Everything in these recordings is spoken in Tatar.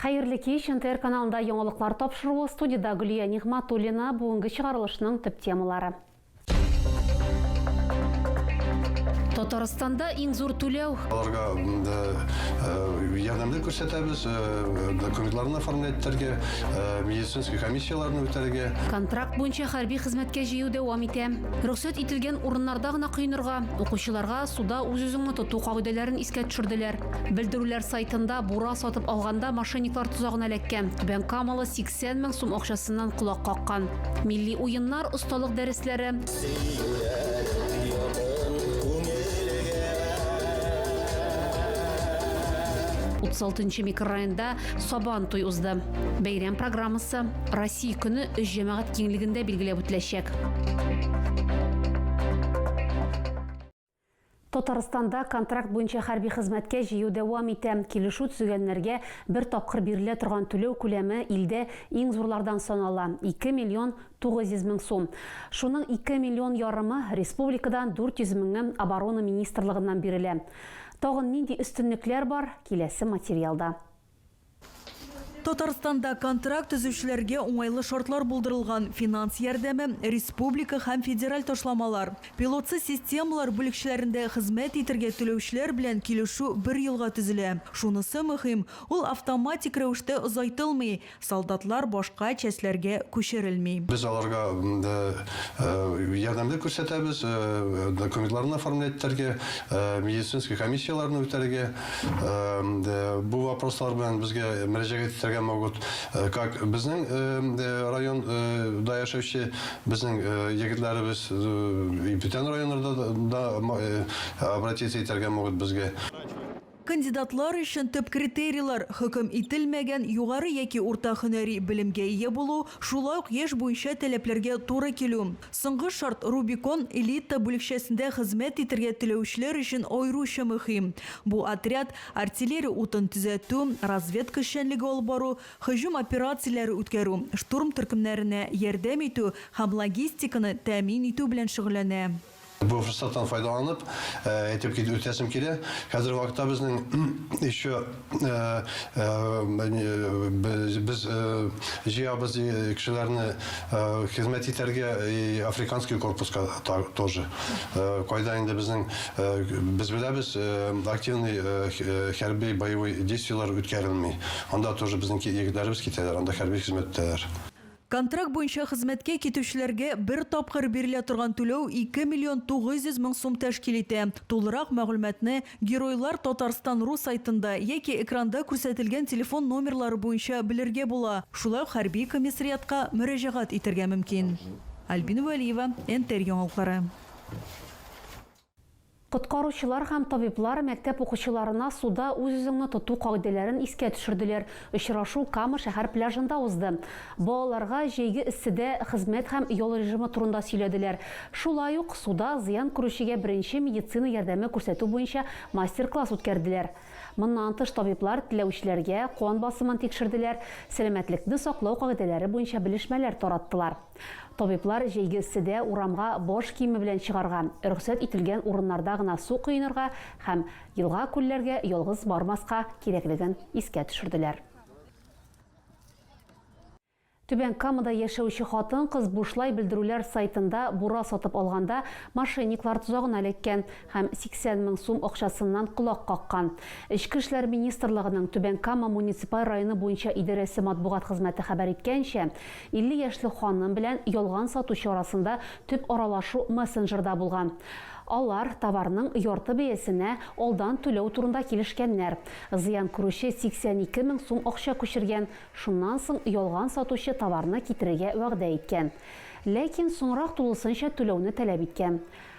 Хәерле кич! НТР каналында яңалыклар тапшыруы, студиядә Гөлия Нигъматуллина, бүгенге чыгарылышның төп темалары. Татарстанда иң зур түләү. Аларга ярдәмне күрсәтәбез, документларны оформлять итәргә, медицинский комиссияләрне үтәргә. Контракт буенча хәрби хезмәткә җыю дәвам итә. Рөхсәт ителгән урыннарда гына коенырга, укучыларга суда үз-үзеңне тоту кагыйдәләрен искә төшерделәр. Белдерүләр сайтында бура сатып алганда мошенниклар тозагына эләккән. Түбән Камалы 80 мең сум акчасыннан колак каккан. Милли уеннар, осталык дәресләре. Утыз алтынчы микрорайонда Сабан туй узды. Бәйрәм программасы Россия көне өч җәмәгать киңлегендә билгеләп үтеләчәк. Татарстанда контракт буенча хәрби хезмәткә җыю дәвам итә. Килешү төзегәннәргә бер тапкыр бирелә торган түләү күләме илдә иң зурлардан санала, ике миллион тугыз йөз мең сум. Шуның ике миллион ярымы республикадан, дүрт йөз меңе Оборона министрлыгыннан бирелә. Тагын нинди өстенлекләр бар, киләсе материалда. Татарстанда контракт төзүчеләргә уңайлы шартлар булдырылган, финанс ярдәме, республика һәм федераль ташламалар, пилотсыз системалар бүлекчәләрендә хезмәт итәргә түләүчеләр белән килешү бер елга төзелә. Шунысы мөһим, ул автоматик рәвештә озайтылмый, солдатлар башка частьләргә күчерелми. Без аларга ярдәм дә күрсәтәбез, документларны оформлять итәргә, медицинский комиссияләрне үтәргә. бу вопрослар белән безгә мөрәҗәгать итәргә могут. Как безнең район да яшәүче безнең егетләребез и бүтән районнарда да обратиться итәргә могут безгә. Кандидатлар өчен төп критерийлар, хөкем ителмәгән югары яки урта һөнәри белемгә ия булу, шулай ук яшь буенча таләпләргә туры килү. Соңгы шарт, Рубикон элита бүлекчәсендә хезмәт итәргә теләүчеләр өчен аеруча мөһим. Бу отряд, артиллерия утын төзәтү, разведка эшчәнлеге алып бару, һөҗүм операцияләре үткәрү, штурм төркемнәренә ярдәм итү һәм логистиканы тәэмин итү белән шөгыльләнә. Бу форсаттан файдаланып, әйтеп үтәсем килә, хәзерге вакытта безнең еще, Э, э, э, без җыябыз кешеләрне хезмәт итәргә африканский корпуска тоже кайда инде безнең без беләбез активный хәрби боевой действиелар үткәрелми анда тоже безнең егетләребез китәләр анда хәрби хезмәттәләр Контракт буенча хезмәткә китүчеләргә бер тапкыр бирелә торган түләү ике миллион тугыз йөз мең сум тәшкил итә. Тулырак мәгълүматны Геройлар Татарстан ру сайтында яки экранда күрсәтелгән телефон номерлары буенча белергә була, шулай ук хәрби комиссариатка мөрәҗәгать итәргә мөмкин. Альбина Вәлиева, НТР яңалыклары. Коткаручылар һәм табиблар мәктәп укучыларына суда үз-үзеңне тоту кагыйдәләрен искә төшерделәр. Очрашу Кама шәһәр пляжында узды. Балаларга җәйге эсседә хезмәт һәм ял режимы турында сөйләделәр. Шулай ук суда зыян күрүчегә беренче медицина ярдәме күрсәтү буенча мастер-класс үткәрделәр. Моннан тыш табиблар теләүчеләргә кан басымын тикшерделәр, сәламәтлекне саклау кагыйдәләре буенча белешмәләр тараттылар. Табиблар җәйге эсседә урамга баш киеме белән чыгарга, рөхсәт ителгән урыннарда гына су коенырга һәм елга-күлләргә ялгыз бармаска кирәклеген искә төшерделәр. Түбән Камада яшәүче хатын-кыз бушлай белдерүләр сайтында бура сатып алганда мошенниклар тозагына эләккән. һәм 80 мең сум акчасыннан колак каккан. Эчке эшләр министрлыгының Түбән Кама муниципаль районы буенча идарәсе матбугат хезмәте хәбәр иткәнчә, 50 яшьлек ханым белән ялган сатучы арасында төп аралашу мессенджерда булган. Алар товарның ярты бәясенә алдан түләү турында килешкәннәр. Зыян күрүче 82 мең сум акча күчергән, шуннан соң ялган сатучы товарны китерергә вәгъдә иткән. Ләкин соңрак тулысынча түләүне таләп иткән.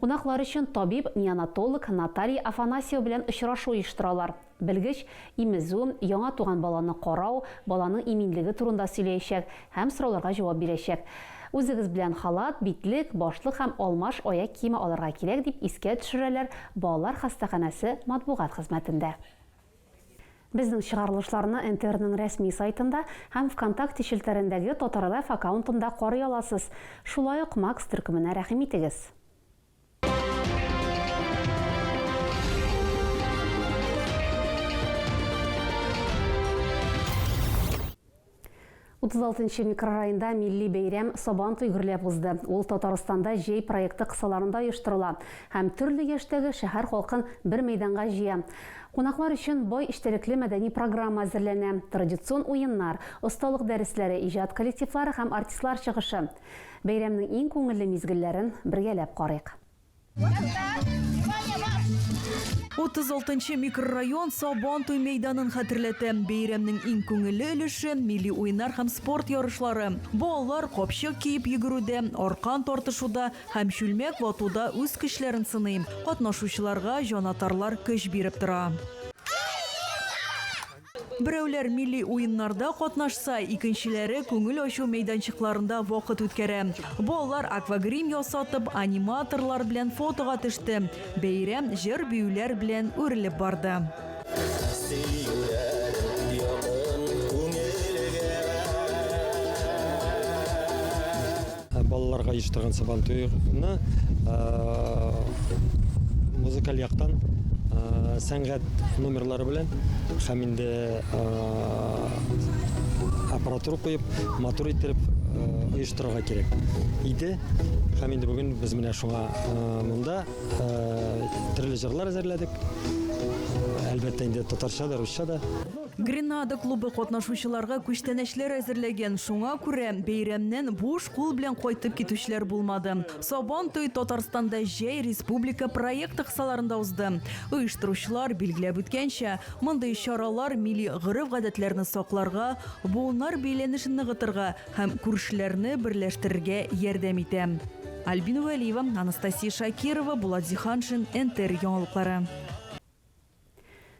Кунаклар өчен табиб, неонатолог Наталья Афанасьева белән очрашу оештыралар. Белгеч имезү, яңа туган баланы карау, баланың иминлеге турында сөйләячәк һәм сорауларга җавап бирәчәк. Үзегез белән халат, битлек, башлык һәм алмаш аяк киеме алырга кирәк, дип искә төшерәләр балалар хастаханәсе матбугат хезмәтендә. Безнең чыгарылышларны НТРның рәсми сайтында һәм Вконтакте челтәрендәге Татарлэф аккаунтында карый аласыз, шулай ук Макс төркеменә рәхим итегез. 36 нчы микрорайонда милли бәйрәм Сабан туй гөрләп узды. Ул Татарстанда җәй проекты кысаларында оештырыла һәм төрле яшьтәге шәһәр халкын бер мәйданга җыя. Кунаклар өчен бай эчтәлекле мәдәни программа әзерләнә, традицион уеннар, осталык дәресләре, иҗат коллективлары һәм артистлар чыгышы. Бәйрәмнең иң күңелле мизгелләрен бергәләп карыйк. Утыз алтынчы микрорайон Сабан туй мәйданын хәтерләтә. Бәйрәмнең иң күңелле өлеше, милли уеннар һәм спорт ярышлары. Балалар капчык киеп йөгерүдә, аркан тартышуда һәм чүлмәк ватуда үз көчләрен сыный. Катнашучыларга җанатарлар көч биреп тора. Берәүләр милли уеннарда катнашса, икенчеләре күңел ачу мәйданчыкларында вакыт үткәрә. Балалар аквагрим ясатып, аниматорлар белән фотога төште. Бәйрәм җыр-биюләр белән үрелеп барды. Балаларга оештырган сабантуйны музыкаль яктан сәнгать номерлары белән һәм инде аппаратура куеп, матур иттереп оештырырга кирәк иде. Һәм инде бүген без менә шуңа монда төрле җырлар әзерләдек. Әлбәттә инде татарча да, русча да. Гренада клубы катнашучыларга күчтәнәчләр әзерләгән, шуңа күрә бәйрәмнән буш кул белән кайтып китүчеләр булмады. Сабан туе Татарстанда Җәй республика проекты кысаларында узды. Оештыручылар билгеләп үткәнчә, мондый чаралар милли гореф-гадәтләрне сакларга, буыннар бәйләнешен ныгытырга һәм күршеләрне берләштерергә ярдәм итә. Альбина Вәлиева, Анастасия Шакирова, Булат Зиһаншин, НТР яңалыклары.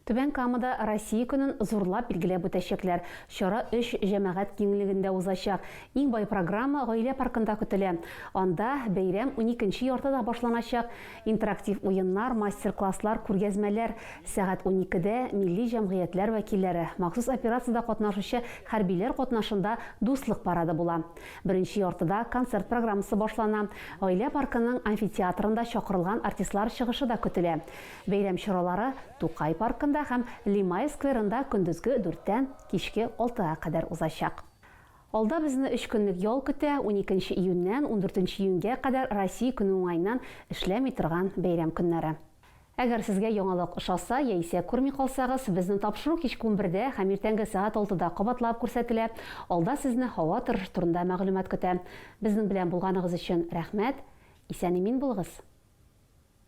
Түбән Камада Россия көнен зурлап билгеләп үтәчәкләр. Чара өч җәмәгать киңлегендә узачак. Иң бай программа Гаилә паркында көтелә. Анда бәйрәм уникенче яртыда башланачак. Интерактив уеннар, мастер-класслар, күргәзмәләр. Сәгать уникедә милли җәмгыятьләр вәкилләре, махсус операциядә катнашучы хәрбиләр катнашында Дуслык парады була. Беренче яртыда концерт программасы башлана. Гаилә паркының амфитеатрында чакырылган артистлар чыгышы да көтелә. Бәйрәм чаралары Тукай паркында һәм Лимай скверында көндезге дүрттән кичке алтыга кадәр узачак. Алда безне өч көнлек ял көтә, уникенче июньнән ундүртенче июньгә кадәр Россия көне уңаеннан эшләми торган бәйрәм көннәре. Әгәр сезгә яңалык ошаса яисә күрми калсагыз, безнең тапшыру кичке унбердә һәм иртәнге сәгать алтыда кабатлап күрсәтелә, алда сезне һава торышы турында мәгълүмат көтә. Безнең белән булганыгыз өчен рәхмәт! Исән-имин булыгыз!